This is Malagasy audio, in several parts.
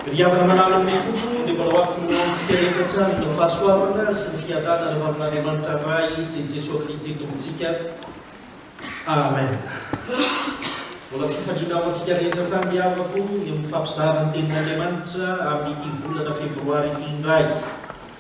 Ry havana manaraka ny Tompo, dia mbola ho avy toy ny laonitsika rehetra hatrany ny fahasoavana sy ny fiadanana avy amin'Andriamanitra Ray sy Jesoa Kristy Tompontsika. Amen. Mbola fifaliana ho antsika rehetra hatrany ry havako ny mifampizara ny tenin'Andriamanitra amin'ity volana febroary ity indray.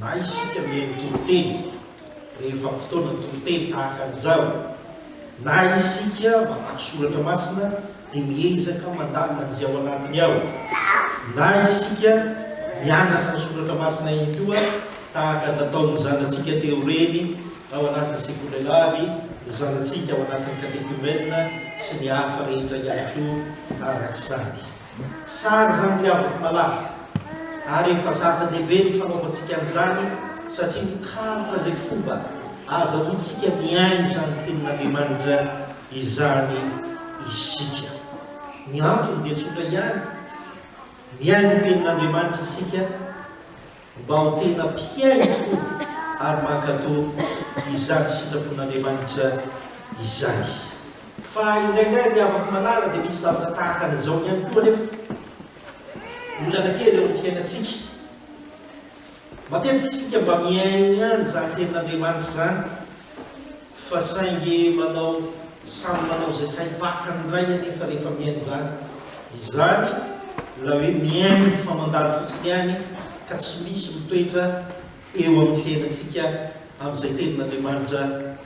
Na isika mihaino toriteny rehefa amin'ny fotoana toriteny tahaka an'izao, na isika mamaky soratra masina dia miezaka mandalina an'izay ao anatiny ao, na isika mianatra ny soratra masina ihany koa tahaka ny nataon'ny zanatsika teo reny tao anatin'ny sekolelahy, ny zanatsika ao anatin'ny katekomena sy ny hafa rehetra ihany koa araka izany. Tsara izany ry havako malala, ary efa zava-dehibe ny fanaovantsika an'izany satria mikaroka izay fomba ahazahoantsika mihaino izany Tenin'Andriamanitra izany isika. Ny antony dia tsotra ihany, mihaino ny Tenin'Andriamanitra isika Mbao tena mpihaino tokoa ary mankatò izany sitrapon'Andriamanitra izany. Fa indraindray ny havako malala dia misy zavatra tahaka an'izao ihany koa anefa. Olana kely eo amin'ny fiainantsika. Matetika isika mba mihaino ihany izany tenin'Andriamanitra izany Fa saingy manao samy manao izay saim-patany indray anefa rehefa mihaino izany. Izany ilay hoe mihaino fa mandalo fotsiny ihany ka tsy misy mitoetra eo amin'ny fiainantsika amin'izay Tenin'Andriamanitra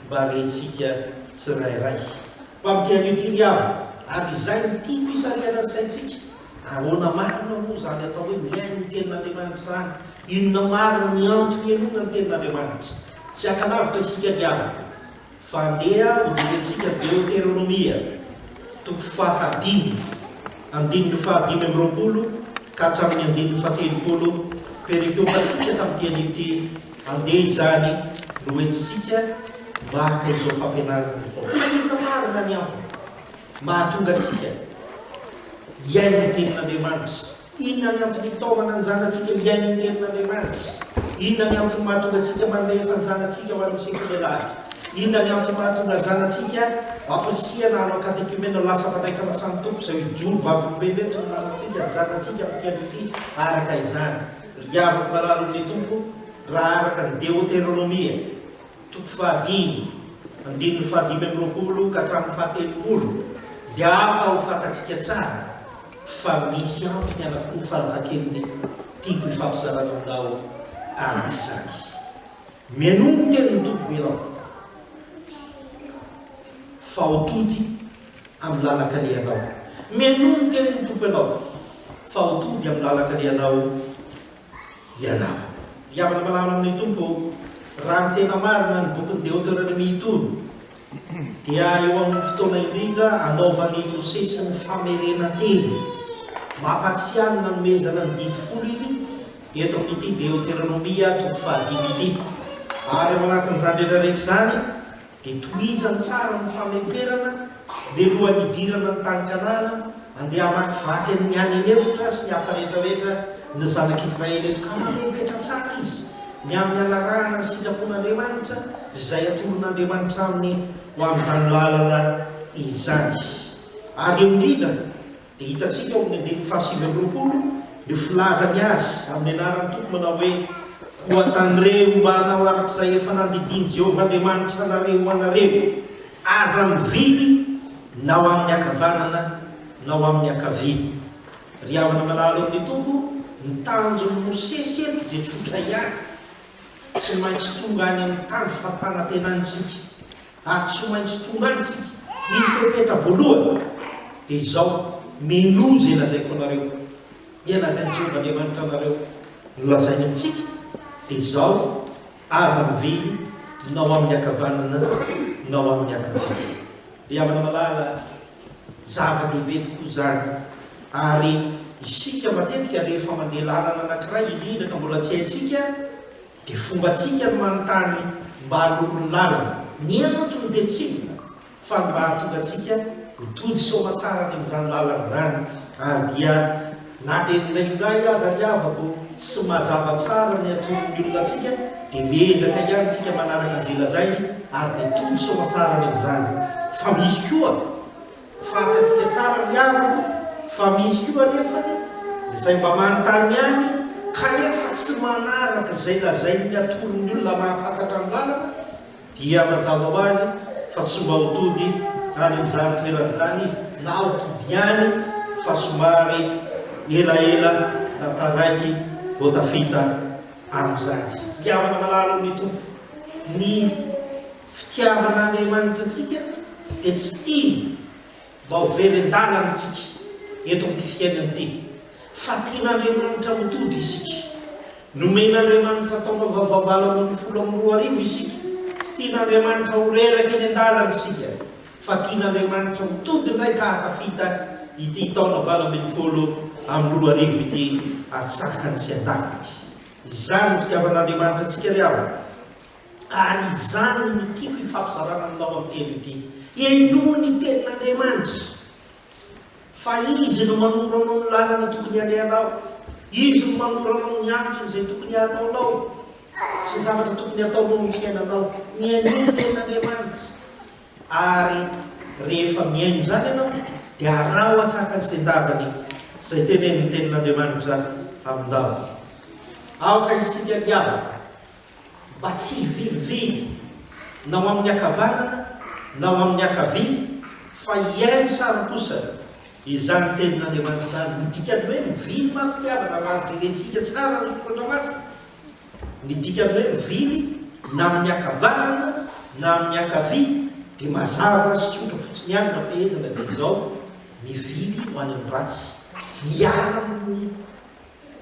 mba rentsika tsirairay. Mba mity an'io ty ry havana, ary izay no tiako hisarihana ny saintsika Ahoana marina moa izany atao hoe mihaino ny Tenin'Andriamanitra izany? Inona marina ny antony henoana ny Tenin'Andriamanitra? Tsy haka lavitra isika ny havana, fa andeha hojerentsika ny Deoteronomia, toko fahadimy, andininy fahadimy amby roapolo ka hatramin'ny andininy fahatelopolo. Perekiôpantsika tamin'ity anio ity, andeha izany no hoentintsika maka izao fampianarana izao. Fa inona marina ny antony mahatonga antsika. Hihaino ny Tenin'Andriamanitra. Inona ny antony hitaomana ny zanatsika hihaino ny Tenin'Andriamanitra? Inona ny antony mahatonga antsika manome hefa ny zanatsika ho any amin'ny sekoly alahady? Inona ny antony mahatonga ny zanatsika ampirisihana hanao katekimena ho lasa mpandray fanasan'ny Tompo izay ho jono vavolombelona eto no namantsika ny zanatsika amin'ity andro ity araka izany? Ry havako malala omen'ny Tompo, raha araka ny Deoteronomia, Toko fahadimy, andininy fahadimy amby roapolo ka hatramin'ny fahatelopolo, dia araka ho fantatsika tsara fa misy antony anankiroa farafahakeliny tiako hifampizarana aminao araka izany. Mialoha ny tenin'ny Tompo ianao fa ho tody amin'ny lalan-kalehanao. Mialoha ny tenin'ny Tompo ianao fa ho tody amin'ny lalan-kalehanao ianao. Ry havana malala amin'ny Tompo ô, raha ny tena marina ny bokin'i Deoteronomia itony dia eo amin'ny fotoana indrindra anaovan'ny Mosesy ny famerenan-teny. Mampatsiahy ny nanomezana ny didy folo izy eto amin'ity Deoteronomia toko fahadimy ity. Ary ao anatin'izany rehetra rehetra izany, Dia tohizany tsara ny fameperana mialohan'ny hidirana ny tany Kanana, andeha hamakivaky an'ny any an'efitra sy ny hafa rehetrarehetra ny zanak'Israely eto, ka mamepetra tsara izy ny amin'ny hanarahana ny sitrapon'Andriamanitra sy izay atoron'Andriamanitra aminy ho amin'izany lalana izany. Ary eo indrindra. dia hitantsika ao amin'ny andininy fahasivy amby roapolo ny filazany azy amin'ny anaran'ny Tompo manao hoe, Koa tandremo mba hanao araka izay efa nandidian'i Jehovah Andriamanitra anareo ho anareo. Aza mivily na ho amin'ny ankavanana na ho amin'ny ankavia. Ry havana malala ao amin'ny Tompo, ny tanjon'i Mosesy eto dia tsotra ihany, tsy maintsy tonga any amin'ny tany fampanantenana isika. ary tsy maintsy tonga any isika. Ny fepetra voalohany dia izao, Minoa izay lazaiko anareo. Dia lazain'i Jehovah Andriamanitra anareo no lazainy amintsika, dia izao, Aza mivily na ho amin'ny ankavanana na ho amin'ny ankavia. Ry havana malala, zava-dehibe tokoa izany, ary isika matetika rehefa mandeha lalana anankiray, indrindra ka mbola tsy haintsika, Dia fombantsika ny manontany mba hanoro ny lalana. Ny antony dia tsy inona fa ny mba hahatonga antsika ho tody soamatsara any amin'izany lalana izany. Ary dia na dia indraindray aza ry havako tsy mazava tsara ny hatoron'ny olona antsika dia miezaka ihany isika manaraka izay lazainy ary dia tody soamatsara any amin'izany. Fa misy koa. Fantatsika tsara ry havana fa misy koa anefany izay mba manontany ihany kanefa tsy manaraka izay lazain'ny atoron'ny olona mahafantatra ny lalana dia mazava ho azy fa tsy mba ho tody any amin'izany toerana izany izy na ho tody ihany fa somary elaela na taraiky vao tafita amin'izany. Ry havana malala amin'ny Tompo, ny. Fitiavan'Andriamanitra antsika dia tsy tiany mba ho very an-dalana antsika eto amin'ity fiainana ity, fa tian'Andriamanitra ho tody isika. Nomen'Andriamanitra taona vaovao valo ambin'ny folo amby roa arivo isika. Tsy tian'Andriamanitra ho reraka eny an-dalana isika, fa tian'Andriamanitra ho tody indray ka hahatafita ity taona valo ambin'ny folo amby roa arivo ity atsakany sy an-daniny. Izany ny fitiavan'Andriamanitra antsika ry havana. ary izany no tiako hifampizarana aminao amin'ny teny ity. Henoy ny tenin'Andriamanitra, fa Izy no manoro anao ny lalana tokony halehanao, Izy no manoro anao ny antony izay tokony hataonao sy ny zavatra tokony hataonao amin'ny fiainanao. Mihainoa ny tenin'Andriamanitra, ary rehefa mihaino izany ianao, dia araho atsaka ny sendavany izay tenenin'ny tenin'Andriamanitra aminao. Aoka isika hiavaka mba tsy hivilivily na ho amin'ny ankavanana na ho amin'ny ankavia, fa hihaino tsara kosa izany tenin'Andriamanitra izany. Ny dikan'ny hoe mivily manko ny havana, raha jerentsika tsara ny Soratra Masina, ny dikan'ny hoe mivily na amin'ny ankavanana na amin'ny ankavia dia mazava sy tsotra fotsiny ihany raha fehezina dia izao, mivily ho any amin'ny ratsy, miala amin'ny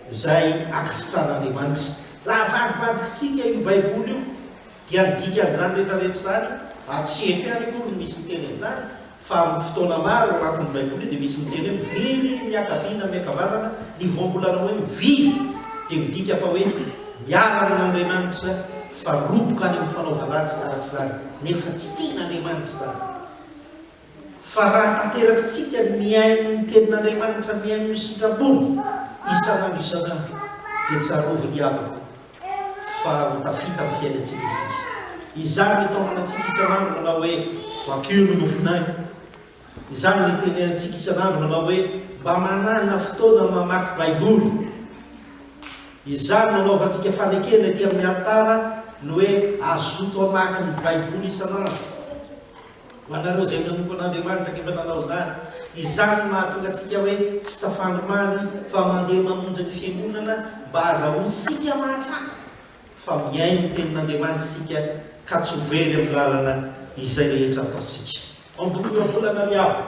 izay ankasitran'Andriamanitra. Raha avadibadikintsika io Baiboly io, dia ny dikan'izany rehetrarehetra izany, ary tsy eto ihany akory no misy miteny an'izany, fa amin'ny fotoana maro ao anatin'ny Baiboly dia misy miteny hoe mivily ny miankaviana, miankavanana, ny voambolana hoe mivily dia midika fa hoe miala amin'Andriamanitra fa roboka any amin'ny fanaovan-dratsy araka izany, nefa tsy tian'Andriamanitra izany. Fa raha tanterakitsika ny mihaino ny Tenin'Andriamanitra, mihaino ny sitrapony isan'andro isan'andro, dia tsaroviny havako fa ho tafita amin'ny fiainantsika isika. Izany no itaomana antsika isan'andro manao hoe, Vakio ny mofonay. Izany no itenenantsika isan'andro manao hoe, Mba manana fotoana mamaky Baiboly. Izany no anaovantsika fanekena ety amin'ny alitara ny hoe, Azoto hamaky ny Baiboly isan'andro. Ho anareo izay nanompo an'Andriamanitra anefa nanao izany, izany no mahatonga antsika hoe tsy tafandry mamy fa mandeha mamonjy ny fiangonana mba hahazahoantsika mahatsapa fa mihaino ny tenin'Andriamanitra isika ka tsy ho very amin'ny lalana izay rehetra ataontsika. Ohabolana ry havana,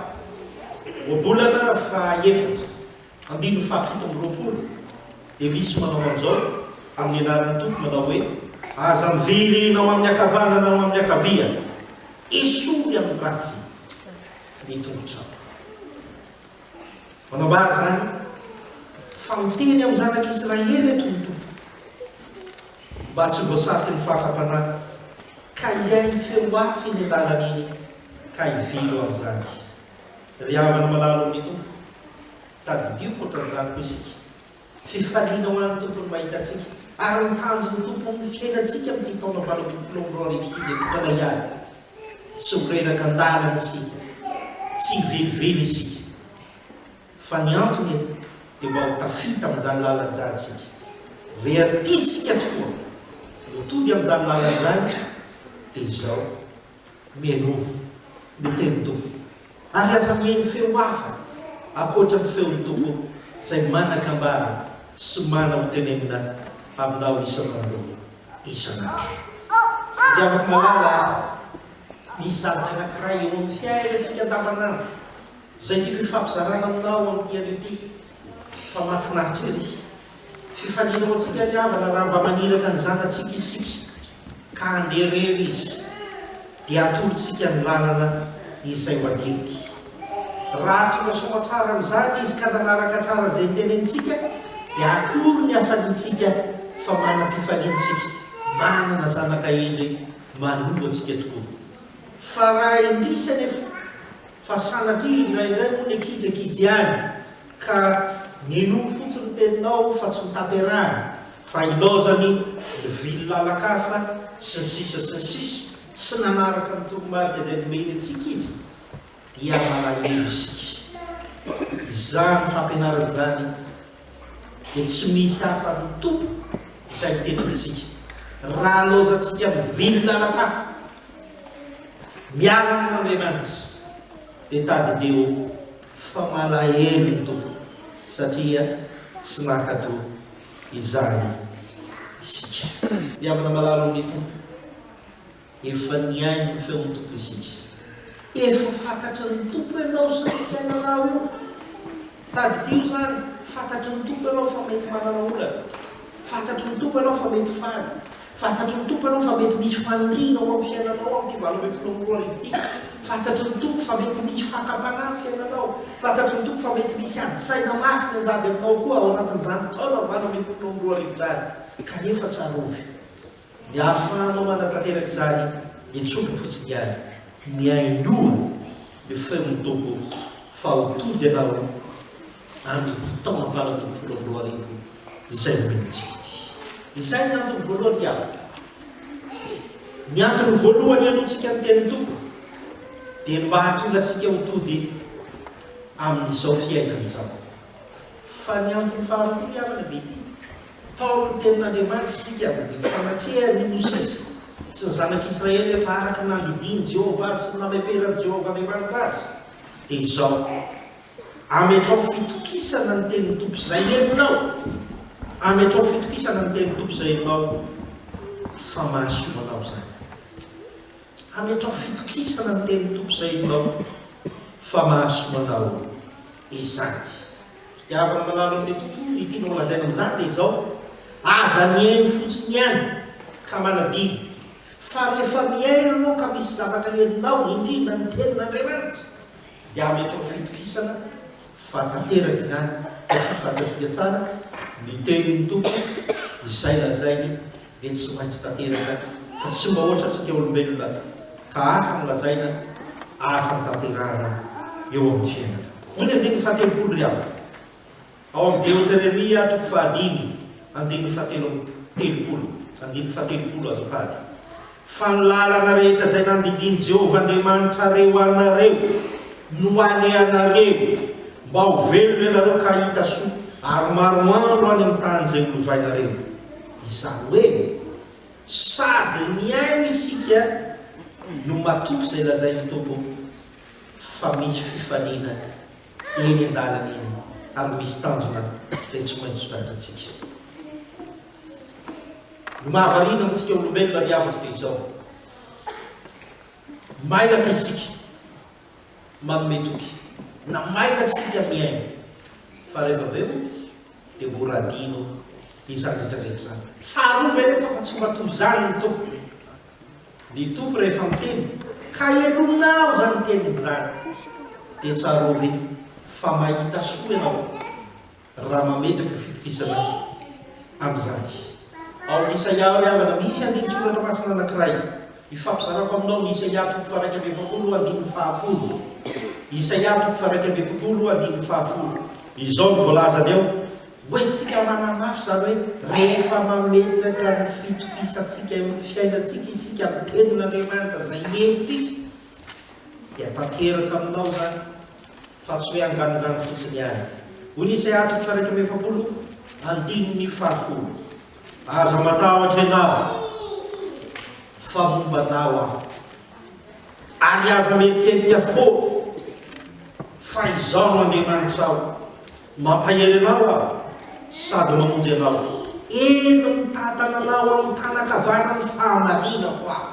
ohabolana fahaefatra. Andininy fahafito amby roapolo, dia misy manao an'izao amin'ny anaran'ny Tompo manao hoe, Aza mivery na ao amin'ny ankavanana na ao amin'ny ankavia, esory amin'ny ratsy ny tongotrao. Manambara izany fa miteny amin'ny zanak'Israely eto ny Tompo mba tsy voasariky ny fakam-panahy ka hihaino feo hafa eny an-dalan'iny ka hively ho amin'izany. Ry havana malala amin'ny Tompo, tadidio fotran'izany koa isika. Fifaliana ho an'ny Tompo ny mahita antsika, ary ny tanjon'ny Tompo amin'ny fiainantsika amin'ity taona valo ambin'ny folo amby roa arivo ity dia tokana ihany. Tsy ho reraka an-dalana isika, tsy hivelively isika, fa ny antony eto dia mba ho tafita amin'izany lalana izany isika. Reha tiantsika tokoa ny hotody amin'izany lalana izany dia izao, Mihainoa ny tenin'ny Tompo, ary aza mihaino feo hafa ankoatra ny feon'ny Tompo izay manan-kambara sy mana ho tenenina aminao isan'andro isan'andro. Ry havako malala a, misy zavatra anankiray eo amin'ny fiainantsika andavanandro izay tiako hifampizarana aminao amin'ity anio ity, fa mahafinaritra ery. Fifaliana ho antsika ry havana raha mba maniraka ny zanatsika isika. ka handeha irery izy, dia atorontsika ny lalana izay ho an'Ety. Raha tonga soa tsara amin'izany izy ka nanaraka tsara izay tenenintsika, dia akory ny hafaliantsika fa manam-pifaliana isika manana zanaka hendry manondro antsika tokoa! Fa raha indrisy anefa fa sanatria indraindray moa ny ankizy ankizy ihany Ka minoa fotsiny ny teninao fa tsy notanterahina fa ilaozany ny vily lalan-kafa sy ny sisa sy ny sisa, tsy nanaraka ny toromarika izay nomeny antsika izy dia malahelo isika. Izany fampianarana izany dia tsy misy hafa no tompo izay miteny amintsika. Raha laozantsika mivily lalan-kafa miaraka amin'Andriamanitra dia tadideo. Fa malahelo ny Tompo satria tsy mankato izany isika. Miambina malalo amin'ny Tompo. Efa nihaino ny feon'ny Tompo isika. Efa fantatry ny Tompo ianao sy ny fiainanao io. Tadidio izany, fantatry ny Tompo ianao fa mety manana olana. Fantatry ny Tompo ianao fa mety faly. Fantatry ny Tompo ianao fa mety misy faniriana ho amin'ny fiainanao amin'ity valo ambin'ny folo amby roa arivo ity. Fantatry ny Tompo fa mety misy fakam-panahy ny fiainanao. Fantatry ny Tompo fa mety misy ady saina mafy mianjady aminao koa ao anatin'izany taona valo ambin'ny folo amby roa arivo izany. Kanefa tsarovy, ny ahafahanao manatanteraka izany dia tsy omby fotsiny ihany. Mihainoa ny feon'ny Tompo fa ho tody ianao. amin'ity taona valo ambin'ny folo amby roa arivo izay nomenantsika ity. Izay ny antony voalohany miavaka. Ny antony voalohany alohantsika ny teny toko dia ny mba hahatonga antsika ho tody amin'izao fiainana izao. Fa ny antony faharoa miavaka dia ity taon'ny tenin'Andriamanitra isika ny fanatrehany Mosesy sy ny zanak'Israely eto araka ny nandidian'i Jehovah sy ny nameperan'i Jehovah Andriamanitra azy dia izao Ametraho fitokisana ny tenin'ny Tompo izay henonao. Ametraho fitokisana ny tenin'ny Tompo izay henonao fa mahasoa anao izany. Ametraho fitokisana ny tenin'ny Tompo izay henonao fa mahasoa anao izany. Fitiavana manalo amin'ny Tompo, ny tianao lazaina amin'izany dia izao, aza mihaino fotsiny ihany ka manadino, fa rehefa mihaino ianao ka misy zavatra henonao, indrindra ny tenin'Andriamanitra, dia mety ho fitokisana fa tanteraka izany satria fantatsika tsara ny tenin'ny Tompo izay lazainy dia tsy maintsy tanteraka fa tsy mba ohatra antsika olombelona ka hafa ny lazaina hafa ny tanterahana eo amin'ny fiainana. Hoy ny andininy fahatelopolo ry havana. Ao amin'ny Deoteremia, toko fahadimy, andininy fahatelo amby telopolo, andininy fahatelopolo azafady, Fa ny lalana rehetra izay nandidian'i Jehovah Andriamanitrareo anareo no alehanareo, mba ho velona ianareo ka hahita soa, ary maromaro any amin'ny tany izay holovainareo. Izany hoe sady mihaino isika no matoky izay lazain'ny Tompo, fa misy fifaliana. eny an-dalana eny ary misy tanjona izay tsy maintsy tratrantsika. Ny mahavariana amintsika olombelona ry havako dia izao, mailaka isika manome toky na mailaka isika mihaino fa rehefa avy eo dia mora adino izany rehetra rehetra izany. Tsarovy anefa fa tsy mba toy izany ny Tompo. Ny Tompo rehefa miteny ka henonao izany teniny izany dia tsarovy fa mahita soa ianao raha mametraka fitokisana amin'izany. Ao amin'ny Isaia ry havana misy andinin-tsoratra masina anankiray ifampizarako aminao, ny Isaia toko faha-iraika amby efapolo andininy fahafolo. Isaia toko faha-iraika amby efapolo andininy fahafolo. Izao no voalazany ao. Ho entintsika manamafy izany hoe rehefa mametraka ny fitokisantsika eo amin'ny fiainantsika isika amin'ny Tenin'Andriamanitra izay henontsika dia tanteraka aminao izany fa tsy hoe anganongano fotsiny ihany. Hoy ny Isaia toko fahairaika amby efapolo andininy fahafolo, Aza matahotra ianao, fa momba anao aho, ary aza mihentihety afoana, fa izaho no Andriamanitrao. Mampahery anao aho sady mamonjy anao. Eny mitantana anao amin'ny tanan-kavaran'ny fahamarinako aho.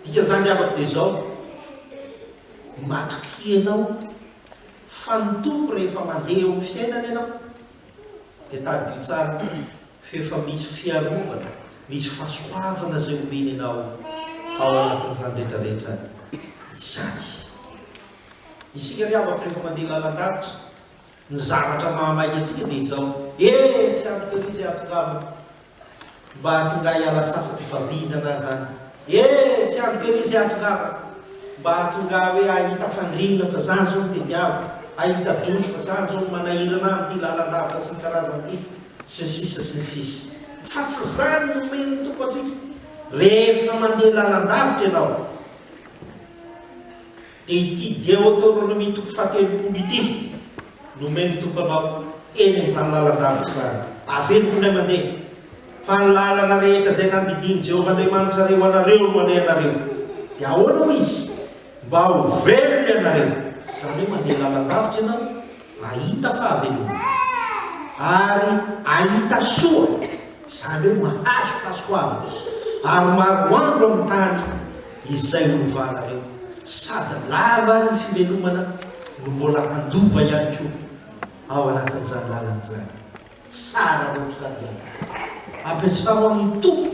Dikan'izany ry havako dia izao, matokia anao fa ny Tompo rehefa mandeha eo amin'ny fiainana ianao dia tadidio tsara f'efa misy fiarovana, misy fahasoavana izay omeny anao ao anatin'izany rehetra rehetra izany. Isika ry havako rehefa mandeha lalan-davitra, ny zavatra mahamaika antsika dia izao, eh! tsy antoka an'io izay hatongavako, mba hahatonga ahy hiala sasatra fa vizana aza any, eh! tsy antoka an'io izay hatongavako, mba hahatonga ahy hoe hahita fandriana fa zany izao no tediaviko, hahita douche fa zany izao no manahirana ahy amin'ity lalan-davitra sy ny karazany ity, sy ny sisa sy ny sisa. Fa tsy izany no omen'ny Tompo antsika, rehefa mandeha lalan-davitra ianao, dia ity Deoteronomia toko fahatelopolo ity no omeny ny tomponao eny amin'izany lalan-davitra izany. Averiko indray mandeha fa ny lalana rehetra izay nandidian'i Jehovah Andriamanitrareo ho anareo no alehanareo. Dia ahoana hoy izy? Mba ho velona ianareo. Izany hoe mandeha lalan-davitra ianao. Ahita fahavelomana ary ahita soa, izany hoe mahazo fahasoavana, ary maroandro amin'ny tany izay olovanareo, sady lava ny fivelomana no mbola handova ihany koa ao anatin'izany lalana izany. Tsara otrany ianao. Apetraho amin'ny Tompo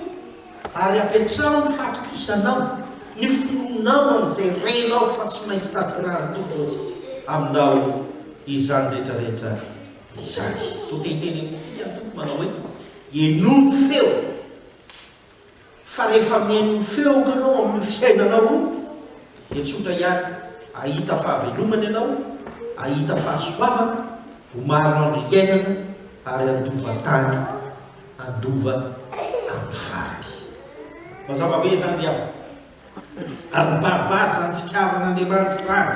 ary apetraho ny fatokisanao, ny finoanao amin'izay renao fa tsy maintsy tanterahan'ny Tompo aminao izany rehetra rehetra izany. Toa te hiteny amintsika ny Tompo manao hoe, Henoy ny feony. fa rehefa mihaino feoko ianao amin'io fiainanao io dia tsotra ihany, ahita fahavelomana ianao, ahita fahasoavana, ho maro andro hiainana ary handova tany, handova amin'ny farany. Mazava be izany ry havako. Ary mibaribary izany fitiavan'Andriamanitra izany.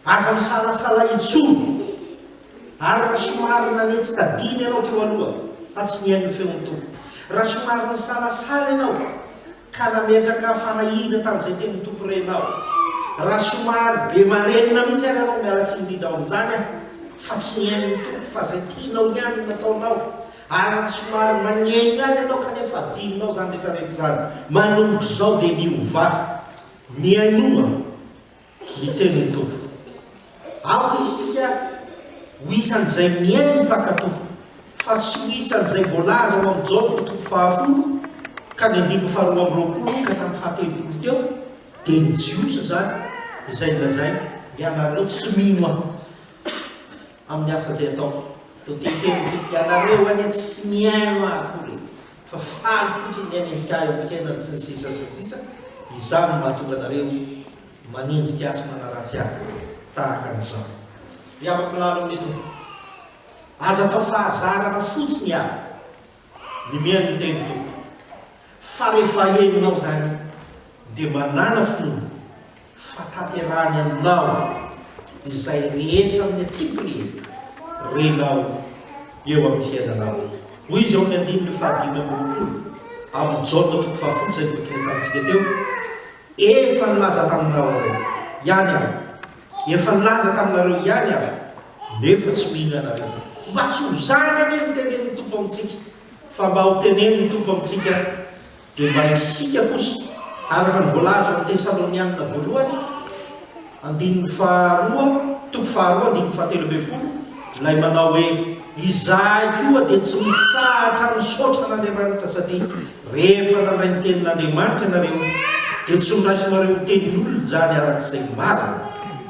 Aza misalasala intsony. Ary raha somary nanetsy tadiny ianao teo aloha fa tsy nihaino ny feon'ny Tompo, raha somary nisalasala ianao ka nametraka fanahiana tamin'izay tenin'ny Tompo renao, raha somary be marenina mihitsy ary ianao, miala tsiny indrindra ao amin'izany aho, fa tsy nihaino ny Tompo fa izay tianao ihany no nataonao, ary raha somary magneno ihany ianao kanefa adinonao izany rehetrarehetra izany, manomboka izao dia miovà. Mihainoa ny tenin'ny Tompo. Aoka isika ho isan'izay mihaino mpankato, fa tsy ho isan'izay voalaza ao amin'ny Jaona toko fahafolo ka ny andininy faharoa amby roapolo ka hatramin'ny fahatelopolo teo, dia ny Jiosy izany izay nolazainy, Ianareo tsy mino Ahy amin'ny asa izay ataoko. Dia teny teny ny Tompo, Ianareo anie tsy mihaino Ahy akory e! fa faly fotsiny ny hanenjika ahy amin'ny fiainany sy ny sisa sy ny sisa, izany no mahatonga anareo manenjika ahy sy manaratsy ahy tahaka an'izao. Ry havako milalao amin'ny Tompo, aza atao fahazarana fotsiny ary ny mihaino ny tenin'ny Tompo, fa rehefa henonao izany dia manàna finoana fa tanterahany aminao izay rehetra amin'ny antsipiny renao eo amin'ny fiainanao. Hoy izy ao amin'ny andininy fahadimy amby roapolo amin'ny Jaona toko fahafolo izay boky nentanintsika teo, Efa nilaza taminareo ihany aho, efa nilaza taminareo ihany aho, nefa tsy mino ianareo. Mba tsy ho izany anie no tenenin'ny Tompo amintsika, fa mba ho tenenin'ny Tompo amintsika Dia mba isika kosa, araka ny voalaza ao Tesalonianina voalohany, andininy faharoa, toko faharoa, andininy fahatelo ambin'ny folo, ilay manao hoe, Izahay koa dia tsy mitsahatra misaotra an'Andriamanitra satria rehefa nandray ny tenin'Andriamanitra ianareo dia tsy noraisinareo ho tenin'olona izany araka izay marina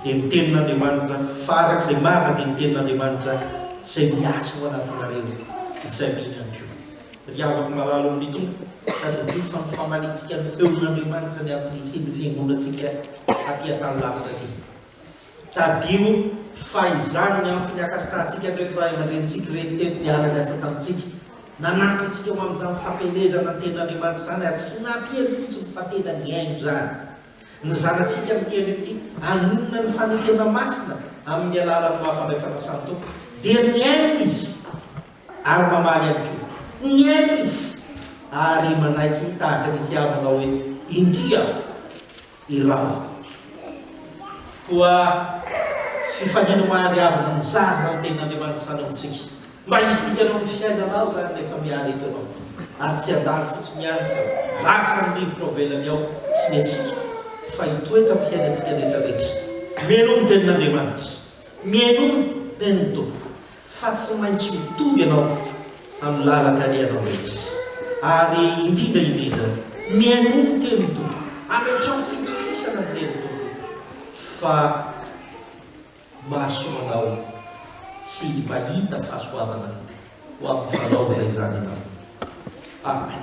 dia ny tenin'Andriamanitra fa araka izay marina dia ny tenin'Andriamanitra izay miasa ao anatinareo izay mino ihany koa. Ry havako malala amin'ny Tompo, tadidio fa nifamalintsika ny feon'Andriamanitra niato nisian'ny fiangonantsika aty an-tany lavitra aty. Tadidio fa izany ny antony hankasitrahantsika an'ireto ray aman-drenintsika ireto teto niara-niasa tamintsika, nanampy antsika ho amin'izany fampielezana ny Tenin'Andriamanitra izany ary tsy nampiely fotsiny fa tena nihaino izany. Ny zanatsika amin'ity andro ity hanonona ny fanekena masina amin'ny alalan'ny maha Mpandray Fanasan'ny Tompo dia nihaino izy. Ary mamaly ihany koa. Mihaino izy ary manaiky tahaka ny hiaho manao hoe, Indria aho, iraho aho. Koa fifanina mahariavana ny zaza ny Tenin'Andriamanitra sanaontsika. Mba hisy dikany ao amin'ny fiainanao izany rehefa miary eto ianao. Ary tsy handalo fotsiny ihany ka lasa ny rivotra ao ivelany ao sy ny antsika, fa hitoetra amin'ny fiainantsika rehetrarehetra. Mihainoa ny Tenin'Andriamanitra. Mihainoa ny Tenin'ny Tompo. fa tsy maintsy mitovy ianao amin'ny lalan-kalehanao rehetra, ary indrindra indrindra, mihainoa ny tenin'ny Tompo, ametraho fitokisana ny tenin'ny Tompo, fa mahasoa anao sy mahita fahasoavana ho amin'ny fanaovana izany ianao. Amen.